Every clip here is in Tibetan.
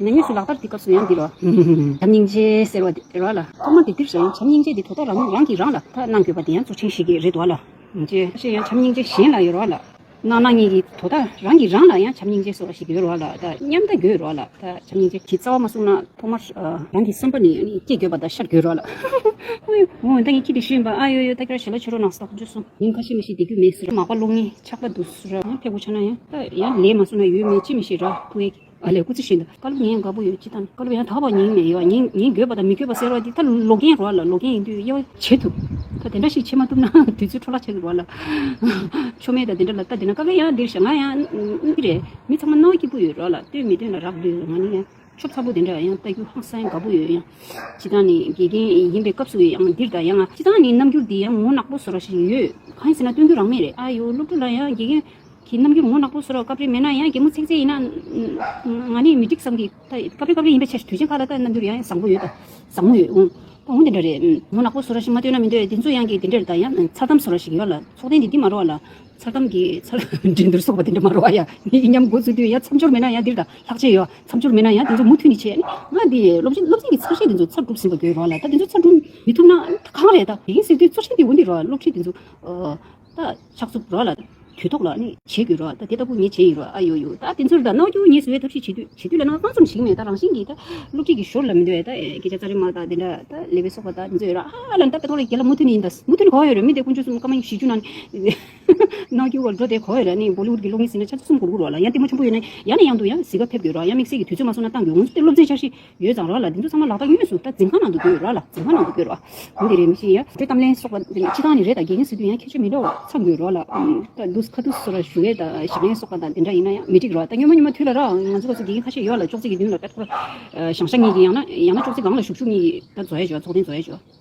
ཉེ་གནས་སུ་ལག་བསྟར་གྱི་སྐབས་སུ་ཡང་འདི་ལོ། བྱམས་སྙིང་རྗེ་ཟེར་བ་དེ་ར་ལ། ཐོག་མར་དེབ་འདིར་བཞག་ཡང་བྱམས་སྙིང་རྗེ་འདི་དོ་ད་རང་རང་གིས་རང་ལ་ཐ་གནང་དགོས་པ་དེ་ཡང་གཙོ་ཆེན་ཞིག་གི་རེད་བ་ལ། ཅེས་བཤད་ཡང་བྱམས་སྙིང་རྗེ་གཞན་ལ་ཡོད་ར་ལ། གནང་གནང་གཉིས་ཀྱིས་དོ་ད་རང་གིས་རང་ལ་ཡང་བྱམས་སྙིང་རྗེ་ཟེར་བ་ཞིག་ཡོད་ར་ལ་ད་མཉམ་ལྟ་དགོས་ར་ལ་ད་བྱམས་སྙིང་རྗེ་གི་རྩ་བ་མ་བསྲུང་ན་ཐོག་མར་རང་གི་བསམ་པ་ནས་སྐྱེ་དགོས་པ་ད་ཤར་དགོས་ར་ལ། ཨོ་ཡོ། ད་ངས་ཁྱི་དེ་ཤི་ཡིན་པ་ཨ་ཡོ་ཡོ་ད་ཁྱེད་ར་ཞལ་ལོ་ཕྱེ་རོགས་གནང་ཟེར་ད་ཁོ་ཚོས་གསུངས། ཡིན་ཁ་ཤས་མི་ཤེས་བདེ་རྒྱུ་མེད་ཟེར་ར་མག་པ་རླུང་ནི་ཆགས་པ་འདུག་ཟེར་ར་ཡང་ཕེབས་དགོས་ཆགས་ན་ཡང་ད་ཡང་ལས་མ་བསྲུང་ན་ཡོད་མེད་ཅི་མི་ཤེས་ར་ཁུ་ཨེ། ཨ་ལས་སྐུ་ཚེ་བཞིན་དུ་བཀའ་སློབ་ཉན་དགའ་པོ་ཡོད་ཅི་ལྟར་བཀའ་སློབ་ཡང་དག་པར་ཉན་ནས་ཡོད་ཉན་ཉན་དགོས་པ་དང་མི་དགོས་པ་ཟེར་བ་འདི་ད་ལོ་རྒན་རོགས་ལ་ལོ་རྒན་ཡིན་དུས་དབྱེ་བ་འབྱེད་ཐུབ། ད་དེ་འདྲ་ཞིག་བྱེད་མ་ཐུབ་ན་དུས་ཚོད་འཕྲོ་བརླག་བྱེད་ཀྱི་རོགས་ལ། ཆོ་མེད་ད་དེ་འདྲ་ལ་ལྟ་བསྡད་ན་དཀའ་གི་ཡ་འདིར་ཞག་ང་ཡང་ཨི་རེད་མི་ཚང་མ་ནོར་སྐྱིད་པོ་ཡོད་རོགས་ལ་ལྟོས་མི་ལྟོས་ན་རག་ལུས་ང་ནི་ཡང་ཆོ་ཚ་པོ་དེ་འདྲ་ཡང་ལྟ་རྒྱུ་ཧང་སང་དགའ་པོ་ཡོད་ཡང་བྱེད་སྟངས་ནི་དགེ་རྒན་ཡིན་པའི་སྐབས་སུ་ཡང་འདིར་ད་ཡ་ང་བྱེད་སྟངས་ནི་རྣམ་འགྱུར་འདི་ཡང་ངོ་ནག་པོ་བཟོ་ར་ཞིག་ཡོད་གང་ཡིན་ཟེར་ན་སྟོན་རྒྱུ་རང་མེད་རེད་ཨ་ཡོ་སློབ་ཕྲུག་ལ་ཡང་དགེ་རྒན་གི་རྣམ་འགྱུར་ངོ་གནག་པོ་བཟོ་རོགས་སྐབས་རེ་མེད་ན་ཡང་གད་མོ་ཚེག་ཚེག་ཡིན་ན་ང་ནི་མི་འགྲིག་བསམ་གི། སྐབས་རེ་སྐབས་རེ་ཡིན་པའི་ཕྱིར་དུས་ཆེན་ཁག་ལ་ལྟ་རྣམ་འགྱུར་ཡང་བཟང་པོ་ཡོད་དང་བཟང་མོ་ཡོད་འོང་འོང་དེ་འདྲ་རེད། ངོ་གནག་པོ་བཟོ་ར་ཞིག་མ་སྟོན་ན་མི་འདོད་དེ་ཚོ་ཡང་གི་དེ་འདྲེར་ལྟ་ཡང་མཚར་གཏམ་བཟོ་ར་ཞིག་ཡོད་ལ་ཚོགས་ཐེངས་འདི་འདི་མ་རོ་བ་ལ། མཚར་གཏམ་གི་མཚར། འགྲན་སྡུར་སོགས་པ་དེ་འདྲ་མ་རོ་བ་ཡང་ཡིན་སྙམ་འགོ་འཛུགས་དུས་ཡང་མཚམས་སྦྱོར་མེད་ན་ཡང་འདིར་ལྟ་ལྷག་ཆད་ཡོད་མཚམས་སྦྱོར་མེད་ན་ཡང་དེ་ཚོ་མུ་མཐུད་ནི་བྱས་ང་འདི་སློབ་ཆེན་སློབ་ཚན་གྱི་ཚོར་ཤེས་དེ་ཚོ་ཚར་སྒྲུབ་ཟིན་པ་དགོས་རོགས་ལ་ད་དེ་ཚོ་ཚར་སྒྲུབ་མི་ཐུབ་ན་གང་རེད་ད་གིན་ཟེར་དུས་ཚོར་ཤེས་འདི་འོ་འདི་རོགས་སློབ་ཁྲིད་དེ་ཚོ། ད་ཕྱག་འཚུབ་རོགས་ལ། དུས་ཐོག་ལ་ནི་བྱེད་དགོས་རོགས་ད་དེ་ལྟ་བུ་ངས་བྱེད་ཡིན་རོགས་ཨ་ཡོ་ཡོ་ད་དེ་ཚོར་ད་གནང་རྒྱུ་ངས་བཟོ་བའི་ཐབས་ཤེས་བྱེད་དུས་བྱེད་དུས་ལ་ནང་དཔང་རྩོམ་ཞིག་མེད་ད་རང་བཞིན་གྱིས་ད་སློབ་ཁྲིད་ཀྱི་ཞོར་ལ་མི་འདོད་ད་སྐད་ཆ་རྩ་རེ་མ་ད་དེ་འདྲ་ད་ལས་པའི་སོག་པ་ད་དེ་ཚོ་ཡོད་ར་ཧ་ལ་ནི་ད་པེ་ཐོག་ལ་རྒྱལ་ལ་མུ་མཐུད་ནི་ཡིན་ད་མུ་མཐུད་ནི་གོ་བ་ཡོད་རེད་མི་དེ་དཀོན་མཆོག་གསུམ་ཀ་མ་ཡིན་བཞི་བཅུ་ན་ནི་གནང་རྒྱུ་བར་འགྲོ་དེ་གོ་བ་ཡོད་ར་ནི་བོ་ལི་ཝུད་ཀྱི་གློག་བརྙན་ཟིན་ན་ཆ་ཚུགས་གསུམ་གོ་དགུ་རོགས་ལ་ཡང་ལྟད་མོ་ཆེན་པོ་ཡོད་ན་ཡང་ནས་ཡང་དུ་ཡང་གཟིགས་པ་ཕེབས་དགོས་རོགས་ཡང་དམིགས་བསལ་གྱི་དུས་ཚོད་མ་སོང་ན་ཏང་གི་འོང་ཆུ་སྟེ་སློབ་ཚན་འཆར་གཞི། ཡོད་ཙང་ར་ལ་འདི་ཚོ་ཚང་མ་ལག་རྟགས་དངོས་སུ་ད་འཛིན་ཁང་ནང་དུ་སྡོད་ར་ལ་འཛིན་ཁང་ནང་དུ་སྡོད་ར་གང་དེ་རེད་མི་ཤེས་ཡ། དེ་གཏམ་གླེང་སོགས་པ་འདི་ནི་ཕྱི་ཐང་ནས་རེད་ད་དགེ་རྒན་ཟེར་དུས་ཡང་ཁྱད་ཆོས་མི་འདྲ་བ་ཚང་དགོས་ར་ལ་ད་འདུག་ཁ་ཐུག་སོ་ར་ཞུ་བས་ད་ཞིབ་ལན་སོགས་པ་ད་དེ་འདྲ་ཡིན་ན་ཡང་མི་འགྲིག་ར་ད་སྨྱོན་མ་སྨྱོན་མ་ཐུལ་ལ་རའང་ང་ཚོ་ལ་ཚོ་དགེ་རྒན་ཁ་ཤས་ཡོད་ར་ལ་ཅོག་ཙེ་གི་མདུན་ལ་པད་ཐོག་ར་ཞང་ཤ་གཉིས་ཀྱི་ཡང་ན་ཡང་ན་ཅོག་ཙེ་སྒང་ལ་ཞུགས་ཞུགས་གཉིས་ཀྱི་ད་བཟོ་ཡ་བྱོ་ཚོགས་ཐེངས་བཟོ་ཡ་བྱོ།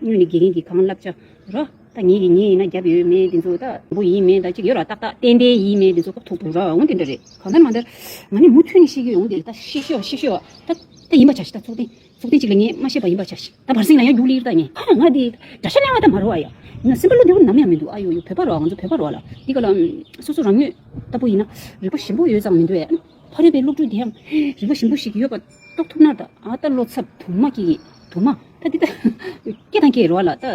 སྔོན་ནི་དགེ་རྒན་གྱིས་གང་བསླབ་བྱ། རོ། ད་ངེད་ཀྱིས་ངེད་ཡིན་ན་རྒྱབ་ཡོད་མེད་དེ་ཚོ་ད། བུ་ཡིན་མིན་ད་ཅིག་ཡོད་ར་ཏག་ཏག་བསྟན་པའི་ཡིན་མིན་དེ་ཚོ་ཀ་ཐུག་ཐུག་ར་འོང་དེ་འདྲ་རེད། གང་ལྟར་མ་འདར། ང་ནི་མུ་མཐུད་ནས་ཤེས་ཀྱི་ཡོང་དེ་ད། ཤེས་ཤོག་ཤེས་ཤོག་ད། ད་ཡིན་པར་བྱ་ཞིག་ད་ཚོགས་ཐེངས། ཚོགས་ཐེངས་གཅིག་ལ་ངས་མ་ཤེས་པ་ཡིན་པར་བྱ་ཞིག་ད་བར་གསེང་ལ་ཡང་རྒྱུགས་ལིར་ད་ངས། ཧ་ང་དེ། དགྲ་ཤ་གླེང་བ་ད་མ་རོ་ཨ་ཡ། ང་སེམས་པ་བློ་བདེ་བོ་ནམ་ཡང་མི་འདུག་ཨ་ཡོ་ཡོ་བོད་པ་རོ་ང་ཚོ་བོད་པ་རོ་ལ། འདི་ག་ལ། སོ་སོ་རང་ཉོས། ད་བུ་ཡིན་ན། རིག་པ་ཞིམ་པོ་ཡོད་ཙང་མི་འདོད་ཨེ། ཕ་རོལ་པའི་སློབ་ཕྲུག་དེའང་རིག་པ་ཞིམ་པོ་ཞིག་ཡོད་པ་རྟོགས་ཐུབ་ན་ད་ལྟ་བློ་འཚབ་དུ་མ་སྐྱེ་ཡིན་དུ་མ་ད་འདི་ལྟ་སྐྱེ་དང་སྐྱེ་རོ་ལ་ད་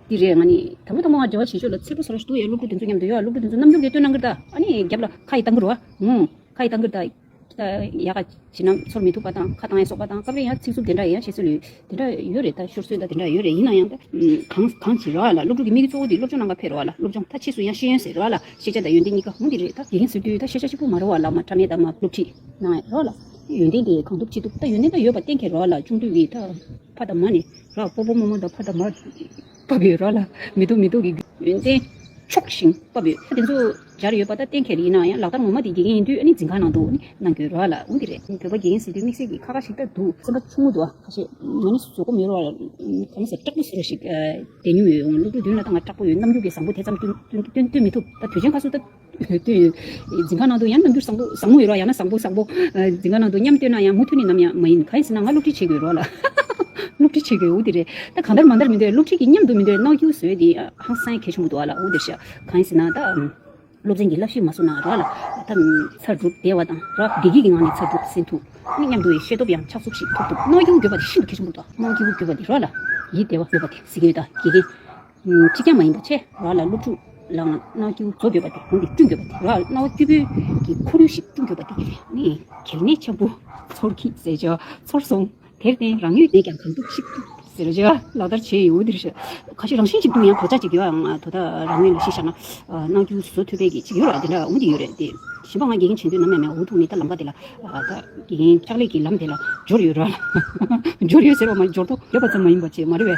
འདི་རེད་ང་ནི་དང་པོ་དང་པོ་ང་འབྲེལ་བ་བྱེད་ཆོག་ལ་ཚིག་གྲོགས་ས་ར་ཞུ་དུ་ཡའི་སློབ་ཕྲུག་དེ་ཚོ་མཉམ་དུ་ཡོད་སློབ་ཕྲུག་དེ་ཚོ་རྣམ་འགྱུར་གྱི་སྟོན་གནང་གིར་ད་ཨ་ནི་རྒྱབ་ལ་ཁ་ཡི་ལྟ་འགུར་རོ་ངོ། ཁ་ཡི་ལྟ་འགུར་ད་ཡ་ཁ་བྱིན་ན་ཚོར་མི་ཐུབ་པ་དང་ཁ་བཏང་ཡ་སོགས་པ་དང་སྐབས་རེ་ཡང་ཚིག་རྩུབ་དེ་འདྲ་ཡང་བྱེད་སྲོལ་ཡོད། དེ་འདྲ་ཡོད་རེད་ད་ཤོར་སྲོལ་ད་དེ་འདྲ་ཡོད་རེད་ཡིན་ན་ཡང་གང་གང་བྱེད་ར་བ་ལ་སློབ་ཕྲུག་གི་དམིགས་ཡུལ་གཙོ་བོ་འདི་སློབ་སྦྱོང་ནང་ཁ་ཕེབས་ར་བ་ལ་སློབ་སྦྱོང་ད་ཕྱིས་སུ་ཡང་ཤེས་ཡོན་ཟེར་ར་བ་ལ་ཤེས་བྱ་ད་ཡོན་ཏན་གཉིས་ཀ་མོ་འདི་རེད་ད་དགེ་རྒན་ཟེར་དུས་ད་ཤེས་བྱ་གཅིག་པུ་མ་ར་བ་ལ་མ་ཕྲ་མེད་ད་མ་སློབ་ཁྲིད་གནང་ཡ་ར་བ་ལ་ཡོན་ཏན་དེ་གང་ཐུབ་ཅི་ཐུབ་ད་ཡོན་ཏན་ད་ཡོད་པ་གཏན་འཁེལ་ར་བ་ལ་ཅུང་ཐུགས་ཀྱི་ད་ཕ་ད་མ་ནི་ར་བ་སྤོ་སྤོ་རྨོ་རྨོ་ད་ཕ་ད་མ། བབས་ཡོད་རོགས་ལ་མི་སྡུག་མི་སྡུག་གི། ཡོན་ཏན་ཕྱོགས་ཞེན་བབས་ཡོད། དེ་ཚོ་སྦྱར་ཡོད་པ་ད་གཏན་འཁེལ་ཡིན་ན་ཡང་ལག་བསྟར་ངོ་མ་དེ་དགེ་རྒན་ཡིན་དུས་ཨ་ནི་འཛིན་ཁང་ནང་དུ་ནི་གནང་རྒྱུའི་རོགས་ལ་འོན་གྱི་རེད། བོད་པ་དགེ་རྒན་ཟེར་དུས་དམིགས་བསལ་གྱི་ཁ་ཁ་ཞིག་ད་འདུག། སེམས་པ་ཆུང་ངུ་འདུག་ཁ་ཤས་ང་ནི་བཟོད་སྒོམ་ཡོད་རོགས་ལ་གང་ཟེར་སྐྲག་པོ་ཟེར་བ་ཞིག་བསྡད་མྱོང་ཡོད་འོང་སློབ་ཕྲུག་བདུན་ལ་ད་ང་སྐྲག་པོ་ཡོད་རྣམས་རྒྱུགས་ཀྱི་བཟང་པོ་དེ་ཙམ་སྟོན་མི་ཐུབ་ད་དུས་ཆེན་ཁ་སུ་ད། བོད་དུ། འཛིན་ཁང་ནང་དུ་ཡང་རྣམ་འགྱུར་བཟང་པོ་བཟང་མོ་ཡོད་རོགས་ཡང་ན་བཟང་པོ་བཟང་པོ། འཛིན་ཁང་ནང་དུ་མཉམ་སྡོད་ན་ཡང་མུ་མཐུད་ནི་ནམ་ཡང་མ་ཡིན་ག་ཡིན་ཟེར་ན་ང་སློབ་ཁྲིད་བྱེད་དགོས་རོགས་ལ། སློབ་ཁྲིད་བྱེད་དགོས་འུ་དེ་རེད་ད་གང་འདར་མ་འདར་མི་འདོད་སློབ་ཁྲིད་ཀྱི་མཉམ་དུ་མི་འདོད་རྣག་འགྱུར་བཟོས་ཏེ་ཧང་སངས་ཁེ་ཆུང་པོ་འདུག་ཨ་ལ་འུ་དེར་ཤག་གང་ཡིན་ཟེར་ན་ད། སློབ་ཚན་གྱི་བསླབ་གཞི་མ་བཟོ་ན་རོགས་ཨ་ལ། ད། ཚར་གྲུབ་བདེ་བ་དང་ར་བདེ་སྐྱིད་ཀྱི་ངང་ནས་ཚར་གྲུབ་ཟིན་ཐུབ། མི་མཉམ་དུ་བའི་ཤེས་སྟོབས་ཡང་ཆགས་ཚུགས་ཤིག་ཐོབ་ཐུབ་རྣག་འགྱུར་འགོད་པ་དེ་ཤིན་ཏུ་ཁེ་ཆུང་པོ་འདུག་རྣག་འགྱུར་འགོད་པ་འདི་རོགས་ལ། ཡིད་བདེ་བ་འདོད་པ་དེ་གཟིགས་ཡོད་ད་དགེ་རྒན། གཅིག་ཀྱང་མ་ཡིན་པ་ཆེ་རག་ལ་སློབ་ཕྲུག་ལའང་རྣ་བ་སྐྱུར་བཟོ་དགོས་པ་དེ་གོང་གི་བསྐྲུན་དགོས་པ་དེ་རག་རྣ་བ་སྐྱུར་པོའི་གི་ཁོར་ཡུག་ཞིག་བསྐྲུན་དགོས་པ་དེ་ནི་གལ་གནད་ཆེན་པོ་ཚོར་གི་ཟེར་བྱ་ཚོར་སོང་དེར་བརྟེན་རང་ཡོད་ནས་ཀྱང་གང་ཐུབ་ཤིག་ཟེར་བྱ་ལག་བསྟར་བྱས་ཡོད་འདིར་ཁ་ཤས་རང་བཞིན་གཅིག་མདུན་ཡང་དོ་ཅག་ཅིག་དེ་བའང་དོ་ད་རང་ངོས་ལ་གཞི་བཞག་ན་རྣ་བ་སྐྱུར་བཟོ་ཐུབ་པའི་གི་ཅིག་ཡོད་རག་དེ་འདྲ་འོང་གི་ཡོད་རེད་དེ་བཞིན་པ་ང་དགེ་རྒན་བྱེད་འདོད་ནམ་ཡང་མེད་འོ་ཐུག་ནི་ད་ལམ་ཀ་དེ་ལ་ད་དགེ་རྒན་ལྕགས་ལེགས་ཀྱི་ལམ་དེ་ལ་འབྱོར་ཡོད་ར་ལ་འབྱོར་ཡོད་ཟེར་བ་མ་འབྱོར་ཐོ་ཡོད་པ་ཙམ་མ་ཡིན་པ་ཆེས་མ་རེ་བའི་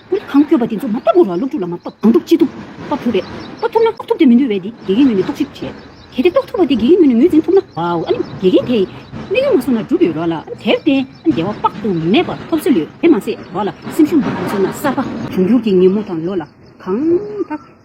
ཀུན་ཁང་བསྐྱོད་པ་དེ་ཚོ་མ་གཏོགས་སྒོ་ར་སློབ་ཕྲུག་ལ་མ་གཏོགས་གང་ཐུབ་ཅི་ཐུབ་གཏོགས་ཐུབ་རེད། གཏོགས་ཐུབ་ན་གཏོགས་ཐུབ་དེ་མི་འདུལ་བས་དེ་དགེ་རྒན་ངོས་ནས་གཏོགས་ཤིག་བྱས། གལ་ཏེ་གཏོགས་ཐུབ་པ་དེ་དགེ་རྒན་ངོས་ནས་ངོས་འཛིན་ཐུབ་ན། བའོ་ཨ་ནི་དགེ་རྒན་དེས་དམིགས་ཡུལ་མ་བཟུང་ན་སྒྲུབ་པའི་རོགས་ལ་ཨ་ནི་དེར་བརྟེན་ཨ་ནི་བདེ་བ་དཔག་ཏུ་མེད་པ་ཐོབ་སྲོལ་ཡོད་དེ་མ་ཟད་རོགས་ལ་སེམས་ཤུགས་མ་ཐོན་སྲོལ་ན་གསར་པ་འབྱུང་འགྱུར་གྱི་ཉིན་མོ་དང་ལོ་ལ་གང་ལྟར།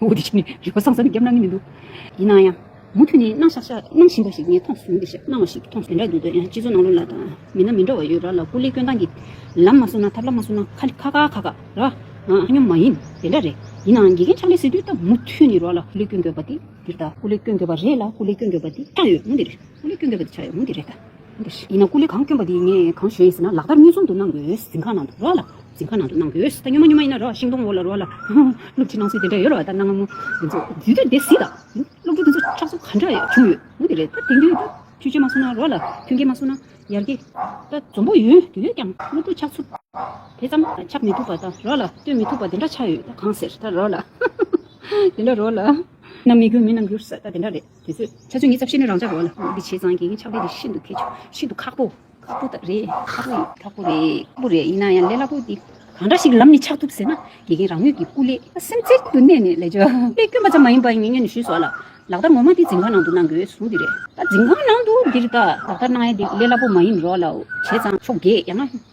འོ་དེ་ཞིག་ནི་རིག་པ་སངས་སར་ནི་རྒྱབ་གནང་གི་མི་འདུག་ཡིན་ན་ཡང། མུ་མཐུད་ནས་གནང་ཤག་ཤག་གནང་བཞིན་པ་ཞིག་ངས་མཐོང་སོང་འདི་ཞེས་གནང་བ་ཞིག་མཐོང་སོང། དེ་འདྲ་འདུག་ཡང་སྤྱི་ཚོགས་ནང་ལོ་ལ་དང་མི་སྣ་མི་འདྲ་བ་ཡོད་ར་ལ་སྐུ་ལས་སྐྱོན་སྟངས་ཀྱི་ལམ་མ་བཟུང་ན་ཐབས་ལམ་མ་བཟུང་ན་ཁ་ཁ་ཁ་ཁ་ར་ཨ་སྙོམས་མ་ཡིན་དེ་འདྲ་རེད་ཡིན་ནའང་དགེ་རྒན་ཕྱག་ལས་ཟེར་དུས་ད་མུ་མཐུད་ནས་ར་ལ་སྐུ་ལས་སྐྱོན་དགོས་པ་དེ་འདི་རེད་ད་སྐུ་ལས་སྐྱོན་དགོས་པ་རེད་ལ་སྐུ་ལས་སྐྱོན་དགོས་པ་འདི་ཆགས་ཡོད་མུ་འདི་རེད་སྐུ་ལས་སྐྱོན་དགོས་པ་འདི་ཆགས་ཡོད་མུ་འདི་རེད་ད། ཡིན་ན་སྐུ་ལས་གང་བསྐྱོན་པ་དེ་ངས་གང་བཞེས་ཟེར་ན་ལག་བསྟར་གཉིས་ཟུང་དུ་གནང་དགོས་གཟིམ་ཁང་ནང་དུ་རོ་ལ་གཟིམ་ཁང་ནང་དུ་གནང་དགོས་ད་སྨྱོན་མ་སྨྱོན་མ་ཡིན་ན་རོ་ཤིང་སྡོང་འོག་ལ་རོ་ལ་སློབ་ཁྲིད་གནང་སྲོལ་དེ་འདྲ་ཡོད་རེད་བ་ད་གནང་ང་མོ་དེ་ཚོ་དུས་དེར་དེ་སྲིད་དང་སློབ་ཕྲུག་དེ་ཚོ་ཁྲག་གསུམ་ག་འདྲ་བྱུང་ཡོད་མུ་དེ་རེད་ད་དེང་དུས་ད་ཆུ་སྐྱེས་མ་སོང་ན་རོ་ལ་ཐུན་སྐྱེས་མ་སོང་ན་ཡར་སྐྱེས་ད་འཛོམས་པོ་ཡོད་དུས་ཀྱང་སློབ་ཕྲུག་ཆགས་ཚུལ་དེ་ཙམ་ཆགས་མི་ཐུབ་པ་ད་རོ་ལ་སྟོན་མི་ཐུབ་པ་དེ་འདྲ་ཆགས་ཡོད་ད་གང་ཟེར་ད་རོ་ལ་དེ་འདྲ་རོ་ལ། ན་མི་དགོས་མི་རྣམས་འགྱུར་ས་ད་དེ་འདྲ་རེད། དེ་ཚོས་ཆ་ཚོད་ངས་ཚབ་བཤད་ནས་རང་ཅག་རོ་ལ་ངོ་འདི་བྱས་ཙང་གི་ཆགས་པས་འདི་ཤིན་ཏུ་ཁེ་ཆོག་ཤིན་ཏུ་ཁག་པོ། ཁག་པོ་རེད་ཁག་པོ་ཡིན། ཁག་པོ་རེད་ཁག་པོ་རེད་ཡིན་ན་ཡང་ལས་སླ་པོ་འདི། གང་འདྲ་ཞིག་ལམ་ནས་ཆགས་ཐུབ་ཟེར་ན་དགེ་རྒན་རང་ངོས་ཀྱི་སྐུ་ལས། སེམས་གཏིང་དུ་གནས་ནས་ལས་བྱོས། དཔེ་སྐྱོན་པ་ཙམ་མ་ཡིན་པར་ངེད་གཉིས་ནས་ཞུས་སོ་ལ། ལག་བསྟར་ངོ་མ་འདི་འཛིན་ཁང་ནང་དུ་གནང་དགོས་ཟུང་འདི་རེད། ད་འཛིན་ཁང་ནང་དུ་འདིར་ལྟ། ལག་བསྟར་གནང་ཡས་འདི་ལས་སླ་པོ་མ་ཡིན་རོ་ལ་བྱས་ཙང་ཆོག་དགེ་ཡང་ན།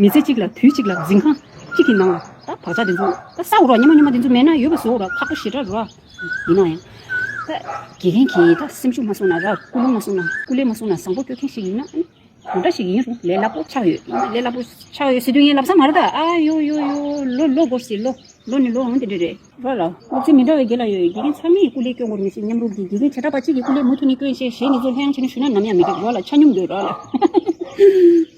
མི་ཚེ་གཅིག་ལ་དུས་གཅིག་ལ་འཛིན་ཁང་གཅིག་གི་ནང་ལ་ད་བག་ཆགས་འདི་ཚོ་ད་ཟ་འོ་རོགས་སྙན་མོ་སྙན་མོ་འདི་ཚོ་མེད་ན་ཡོད་པ་བཟོ་འོ་རོགས་ཁག་པོ་ཞེ་དྲག་རོགས་ཡིན་ནོ་ཡང་ད་དགེ་རྒན་གྱིས་ད་སེམས་ཤུགས་མ་གསུངས་ན་ར་སྐུལ་སློང་མ་གསུངས་ན་སྐུ་ལས་མ་གསུངས་ན་བཟང་པོ་སྐྱོ་མཁན་ཞིག་ཡིན་ན་ཨང་གང་འདྲ་ཞིག་ཡིན་རུང་ལས་སླ་པོ་ཆགས་ཡོད་ལས་སླ་པོ་ཆགས་ཡོད་ཟེར་དུས་ངའི་ལབ་ས་མ་རེད་ད་ཨ་ཡོ་ཡོ་ཡོ་ལོ་ལོ་དགོར་སྲིད་ལོ་ལོ་ནི་ལོ་འོང་དེ་འདྲ་རེད། རོགས་ལ་སློབ་ཚན་མི་འདྲ་བའི་དགེ་ལ་ཡོད་དགེ་རྒན་ཚང་མས་སྐུ་ལས་སྐྱོ་འགོར་མི་སྲིད་མཉམ་རུབ་ཀྱི་དགེ་རྒན་བྱེ་བྲག་པ་གཅིག་གི་སྐུ་ལས་མུ་མཐུད་ནས་སྐྱོ་ཡིན་ཤེས་ཞེས་ངེད་ཚོ་ལྷད་ཡངས་བྱས་ན་ཞུ་ན་ནམ་ཡང་མི་འགྲིག་རོགས་ལ་ཆ་སྙོམས་དགོས་རོགས་ལ།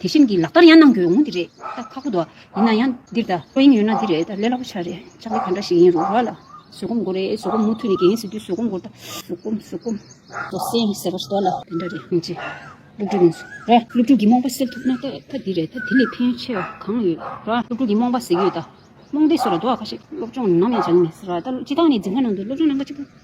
དེ་བཞིན་གྱི་ལག་བསྟར་ཡང་གནང་དགོས་ཡོང་ངོ་འདི་རེད་ད་ཁག་པོ་འདུག་ཡིན་ན་ཡང་འདིར་ད་ཁོ་ཡིན་ཡོད་ན་འདི་རེད་ད་ལས་སླ་པོ་ཆགས་རེད་ལྕགས་ལེ་ག་འདྲ་ཞིག་ཡིན་རུང་ར་ལ་བཟོད་སྒོམ་དགོས་རེད་བཟོད་སྒོམ་མུ་མཐུད་ནས་འགན་ཟེར་དུས་བཟོད་སྒོམ་དགོས་རེད་ད་བཟོད་སྒོམ་བཟོད་སྒོམ། བཟོད་སེམས་ཟེར་བ་ཞིག་ལ་དེ་འདྲ་རེད་ཡིན་ཅི། སློབ་ཕྲུག་ཡིན་ཟེར་ར་སློབ་ཕྲུག་གི་རྨོངས་པ་སེལ་ཐུབ་ན་ད་ད་འདི་རེད་ད་དེ་ལས་ཕན་ཡོན་ཆེ་བ་གང་ཡོད་ར་སློབ་ཕྲུག་གི་རྨོངས་པ་སེལ་གྱི་ཡོད་ད་རྨོངས་དད་སོགས་ལ་དོ་ཁ་ཤིག་སློབ་སྦྱོང་ནམ་ཡང་བྱ་གི་མེད་ཟེར་ར་ད་སྤྱི་བཏང་ནས་འཛིན་ཁང་ནང་དུ་སློབ་སྦྱོང་གནང་སྐབས་གཅིག་པུ།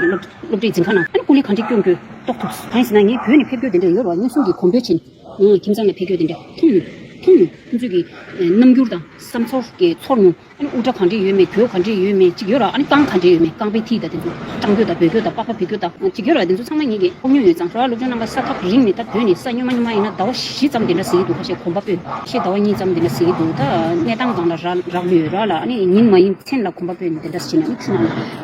སློབ་གྲྭའི་འཛིན་ཁང་ནང་ཀུན་གླེང་གང་འདྲས་སྐྱོང་རྒྱུ་རྟོགས་ཐུབ། གང་ཡིན་ཟེར་ན་ངས་བོད་ནས་ཕེབས་རྒྱུ་དེ་འདྲ་ཡོད་རུང་སྙན་སེང་གི་གོང་འཕེལ་ཕྱིན། ཁྱིམ་ཚང་ནས་ཕེབས་རྒྱུ་དེ་འདྲ་མཐོང་མྱོང། མཐོང་མྱོང། ཁོང་ཚོས་ཀྱི་རྣམ་འགྱུར་དང་བསམ་ཚོར་གྱི་ཚོར་མྱོང། དབུ་སྐྲ་གང་འདྲས་ཡོད་མེད་གོས་གང་འདྲས་ཡོད་མེད་ཅིག་ཡོད་ར་ཨ་ནི་རྐང་གང་འདྲས་ཡོད་མེད་རྐང་པའི་མཐིལ་དང་དེ་ཚོ་སྐྲང་གྱོ་དང་འབོད་གྱོ་དང་པགས་པ་བུད་གྱོ་དང་ཅིག་ཡོད་ར་དེ་ཚོ་ཚང་མ་ངེད་ཀྱིས་ཕོག་མྱོང་ཡོད་ཙང་ར་སློབ་ཆུང་རྣམ་པ་ས་ཐག་རིང་མེད་སྟབས་བོད་ནས་ས་སྨྱོན་མ་སྨྱོན་མ་ཡིན་ན་ཟླ་བ་བཞི་ཙམ་དེ་འདྲ་ཟིན་གྱི་འདུག་ཁ་ཤས་གོམ་པ་སྤོས་ཤེས་ཟླ་བ་གཉིས་ཙམ་དེ་འདྲ་ཟིན་གྱི་འདུག་ད་གནས་སྟངས་གང་ལ་རག་ལུས་ཡོད་ར་ལ་ཨ་ནི་ཉིན་མ་ཡིན་མཚན་ལ་གོམ་པ་སྤོས་ནས་དེ་འདྲ་ཟིན་ཨ་ནི་ཁྱོད་རྣམས་ལ།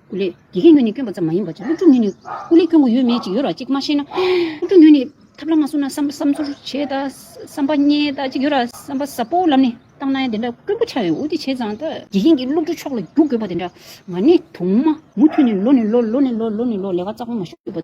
ཀུ་ལེ། དགེ་རྒན་ཉོན་ནི་སྐྱོན་པ་ཙམ་མ་ཡིན་པར་སློབ་ཕྲུག་ཉོན་ནི་ཀུ་ལེ་སྐྱོན་གོ་ཡོད་མེད་ཅིག་ཡོད་ར་ཅིག་མ་ཤེས་ན། སློབ་ཕྲུག་ཉོན་ནི་ཐབས་ལམ་མ་བཟུང་ན་བསམ་བསམ་ཚུར་བྱེད་ད་བསམ་པ་རྙེད་ད་ཅིག་ཡོད་ར་བསམ་པ་ཟབ་པོ་ལམ་ནས་བཏང་ན་དེ་འདྲ་སྐྱོན་པོ་ཆགས་ཡོད་འོ་དེ་བྱས་ཙང་ད། དགེ་རྒན་གྱིས་སློབ་ཕྲུག་ཕྱོགས་ལ་རྒྱུག་དགོས་པ་དེ་འདྲ་མ་ནི་དུང་མ། མུ་མཐུད་ནས་ལོ་ནས་ལོ་ལོ་ནས་ལོ་ལོ་ནས་ལོ་ལས་ཀ་རྩ་གོང་མ་ཤོར་བ།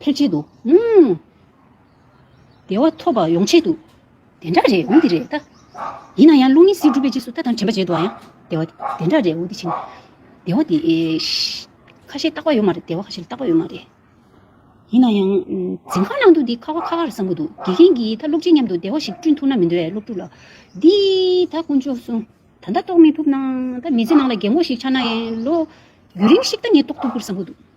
ཕེབས་ཆེད་དུ། བདེ་བ་ཐོབ་པར་ཡོང་ཆེད་དུ། དེ་འདྲ་རེད་འོ་འདི་རེད་ད། ཡིན་ན་ཡང་རླུང་ཡེ་སྲིད་སྒྲུབ་པའི་རྗེས་སུ་ད་དང་དྲན་པ་བྱེད་དུ་ཨ་ཡང། བདེ་བ་དེ་འདྲ་རེད་འོ་འདི་བྱེད། བདེ་བ་དེ། ཁ་ཤས་རྟག་པ་ཡོད་མ་རེད་བདེ་བ་ཁ་ཤས་རྟག་པ་ཡོད་མ་རེད། ཡིན་ན་ཡང། འཛིན་ཁང་ནང་དུ་འདི་ཁ་བ་ཁ་ཁར་བསམ་གྱི་འདུག་དགེ་རྒན་གྱིས་ད་སློབ་ཕྱིའི་མཉམ་དུ་བདེ་བ་ཞིག་བསྐྲུན་ཐུབ་ན་མི་འདོད་ཨེ་སློབ་ཕྲུག་ལགས། འདི་ད་དཀོན་མཆོག་གསུངས། ད་ལྟ་རྟོགས་མི་ཐུབ་ན། ད་མི་ཚེ་ནང་ལ་རྒན་མོ་ཞིག་ཆགས་ན་ཡང་ལོ། ཡུན་རིང་ཞིག་ད་ངས་རྟོགས་ཐུབ་གི་བསམ་གྱི་འདུག།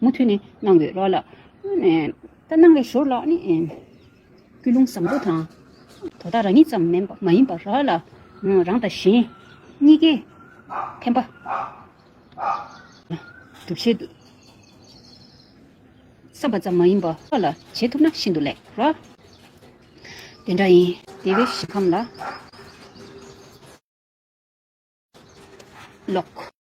མུ་མཐུད་ནས་གནང་བའི་རོགས་ལགས། ད་གནང་བའི་ཞོར་ལ་ནི། ཀུན་སློང་བཟང་པོ་དང། དོ་བདག་རང་ཉིད་ཙམ་མིན་པ་མ་ཡིན་པར་རོགས་ལ། རང་དང་གཞན། གཉིས་ཀའི། ཕན་པ། སྒྲུབ་བྱེད་དུ། བསམ་པ་ཙམ་མ་ཡིན་པར་རོགས་ལ་བྱེད་ཐུབ་ན་ཤིན་ཏུ་ལེགས། རོགས། དེ་འདྲ་ཡིན། དེ་བས་ཞིང་ཁམས་ལ། ལོག།